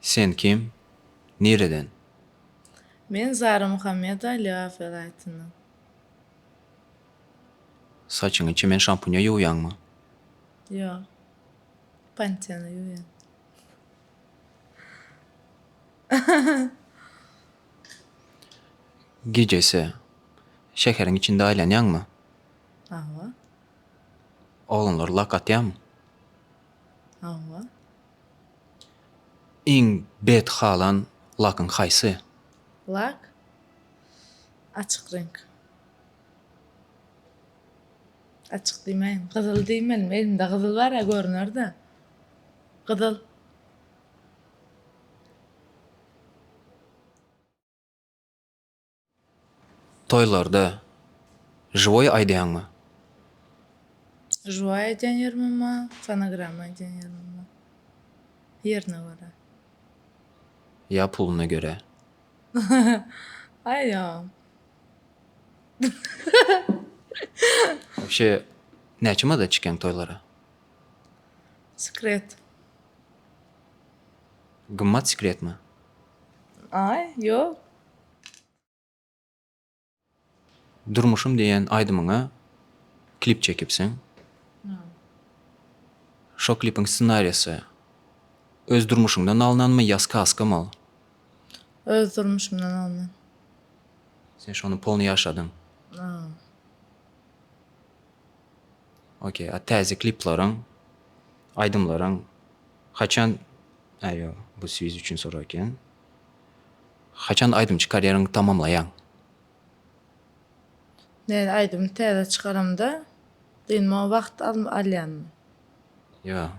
Sen kim? Nireden? Men Zara Muhammedova Liwa welaýatyndan. Saçyňy çemen şampunya ýuwýaňmy? Ýok. Pantene ýuwýan. Gijesi şäheriň içinde aýlanýaňmy? Hawa. Oglanlar lak atýamy? Hawa. Iň bet halan lakyň haýsy? Lak açyk reňk. Açyk diýmäýin. Gyzyl diýmelimi? Elimde gyzyl bar-a görüner-dä. Gyzyl. Toýlarda žiwoý aýdýaňmy? Žiwoý aýdýan ýerimem bar, fonogramma aýdýan ýerimem bar. Ýerine görä. Ýa puluna görä? Aý ýok. Wobşe näçe mada çykýaň toýlara? Sekret. Gymmat sekretmi? Aý, ýok. Durmuşym diýen aýdymyňa klip çekipsiň. Şo klipiň ssenariýasy öz durmuşyňdan alnanmy ýa skazkamy ol? Öz durmuşymdan alnan. Sen şony polny ýaşadyň. Ok, a täze kliplaryň, aýdymlaryň haçan, aýo, bu swiz üçin sorag eken. Haçan aýdym çykarýaryň tamamlaýaň. Näme aýdymy täze çykaramda dynmaga wagt alýanmy. Ýa.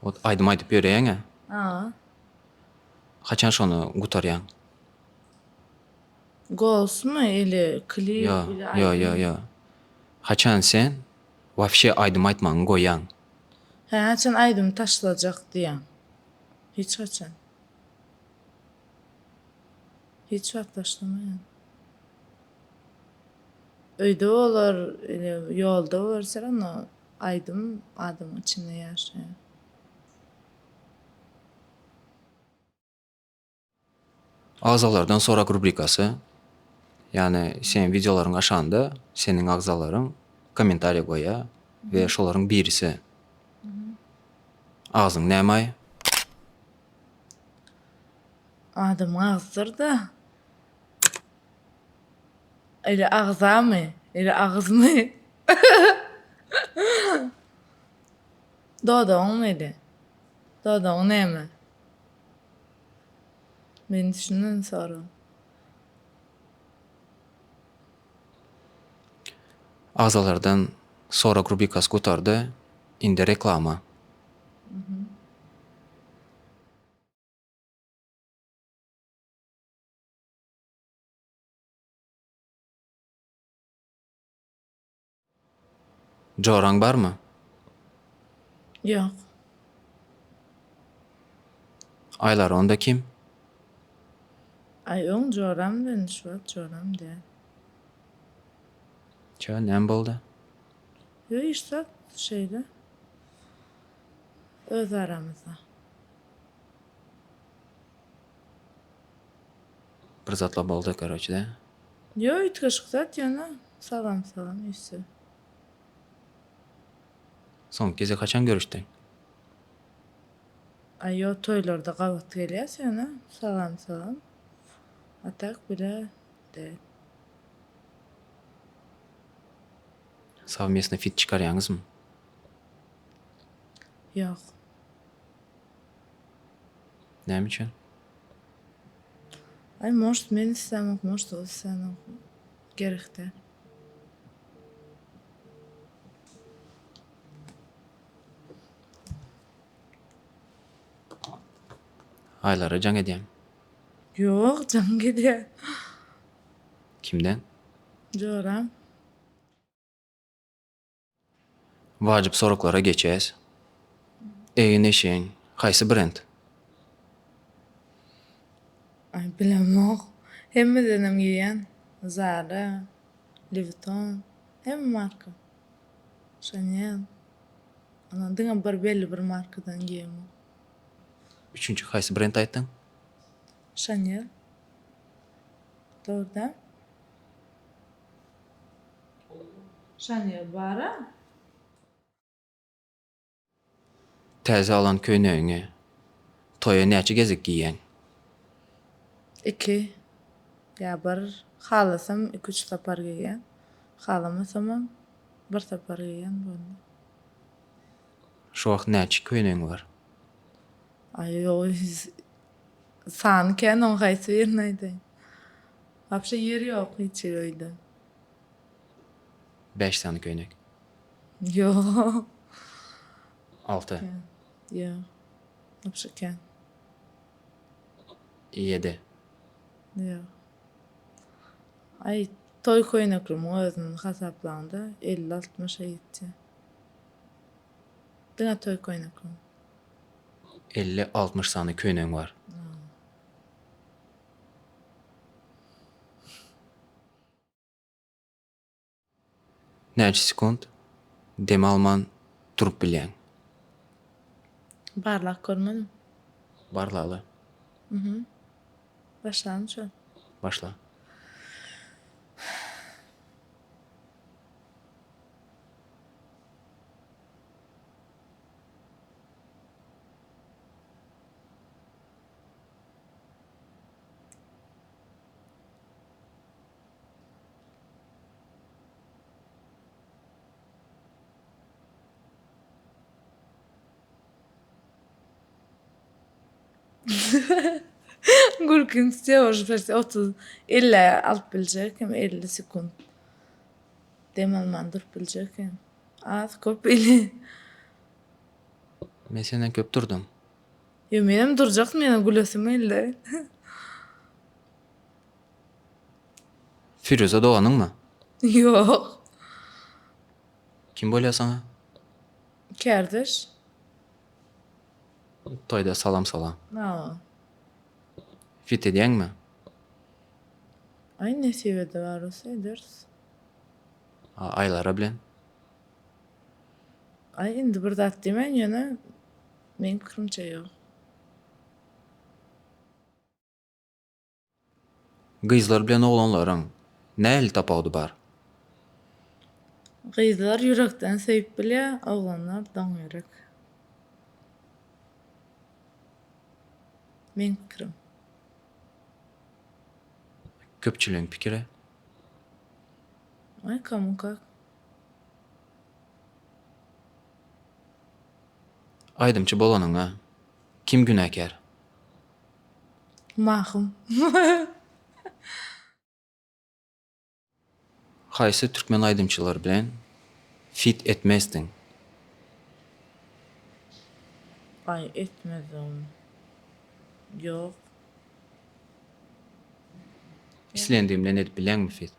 Ot aýdym aýdyp ýöreýäňä. Haa. Haçan şony gutarýaň. Golsmy ili klip ili aýdym. Ýo ýo ýo. Haçan sen wafşe aýdym aýtmagyňy goýýaň. Hä haçan aýdymy taşlajak diýýäň. Hiç haçan. Hiç wagt başlamaýan. Öýde bolar ele ýolda görseler onda aýdym adamyň içinde ýaşaýar. Agzalardan sorak rubrikasy, ýagny seniň wideolaryňy aşanda seniň agzalaryň kommentariýa goýýar we şolaryň birisi Agzyň nämaý? Adamyň agzydyr-da. Eli agzamy, eli agyzmy? Dodagyňmy eli? Dodagyň näme? Men şundan soň. Agzalardan sorag rubrikasy gutardy. Indi reklama. Joraň barmy? Ýok. Aýlar onda kim? Aýyň joram bilen şu wagt joram däl. Çö, näme boldy? Ýok, hiç zat, şeýle. Öz aramyzda. Bir zatlar boldy karoçe de. Yo üýtgeşik zat ýöne salam salam üýtse. Soňky gezek haçan görüşdiň? Ay yo toýlarda gabat gelýäs ýöne salam salam a tak bile däl. Savmestny fit çykarýaňyzmy? Ýok. Näme üçin? Ay most men islamok most ol islamok gerekde. Aylara jaň edýäň. Yok can gidýä. Kimden? Joram. Wajyp soraglara geçýäs. Egin-eşigiň haýsy brend? Aý bilemok. Hemmedenem geýýän. Zara, Louis Vuitton, hemme marka. Chanel. Ondan diňe bir belli bir markadan geýemok. Üçünji haýsy brend aýtdyň? Chanel. Dogry däl. Şanyýaz bara. Täze alan köýnegiňi toýa näçe gezek geýýäň? Iki ýa bir. Halasam iki-üç sapar geýýän. Halamasamam bir sapar geýýän boldy. Şu wagt näçe köýnegiň bar? Aý, ýogy sany kän oň haýsy birini aýdaýyn. Wapşe ýer ýok hiç hili öýde. Bäş sany köýnek. Ýok. Alty. Ýok. Wapşe kän. Ýedi. Ýok. Aý, toý köýneklimiň özüni hasaplaňda elli altmyşa ýetýär. Diňe toý köýneklimi. Elli altmyş sany köýnegiň bar. Näçe sekunt dem alman durup bilýäň? Barlap görmedim. Barlaly. Mhm. Başlamy şu? Başla. Gülkiň steož berse 30 50 alyp biljek hem 50 sekund. Dem alman durup biljek hem. Az köp ili. Men senden köp durdum. Ýo menem durjak menem gülesim geldi. Firuza doganyňmy? Ýok. Kim bolýar saňa? Kärdeş. Toýda salam salam. Salam. Fit edýäňmi? Aý nesip eder arus ederis. Aýlara bilen? Aý indi bir zat diýmen ýöne Meň pikirimçe ýok. Gyzlar bilen oglanlaryň nähili tapawudy bar? Gyzlar ýürekden söýüp bilýär, oglanlar doň ýürek. Meň pikirim. Köpçüligiň pikiri? Oi, kому kak. Aýdymçy bolanyňa kim günäkär? Mahym. Haýsy türkmen aýdymçylary bilen fit etmezdiň? Aý etmezdigim ýok. Islendigim bilen edip bileňmi fit?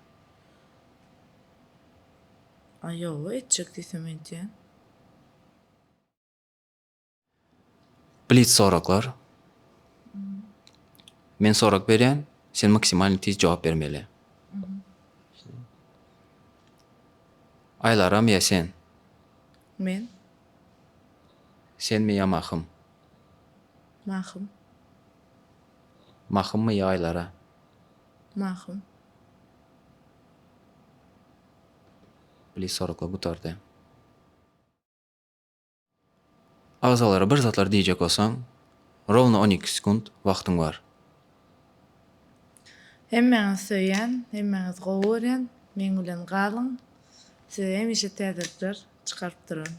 Aý ýoga etjek diýsem edýän. Blitz soraglar. Men sorag berýän, sen maksimalny tiz jogap bermeli. Aýlaram ýa sen? Men. Senmi ýa Mahym? Mahym. Mahymmy ýa Aýlara? Mahym. Bili soraka gutardy. Agzalara bir zatlar diýjek bolsaň, rowno on iki sekunt wagtyň bar. Hemmäňizi söýýän, hemmäňizi gowy görýän, meň bilen galyň, size hemişe täzelikler çykaryp duran.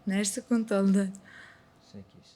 Näçe sekunt boldy? Sekiz.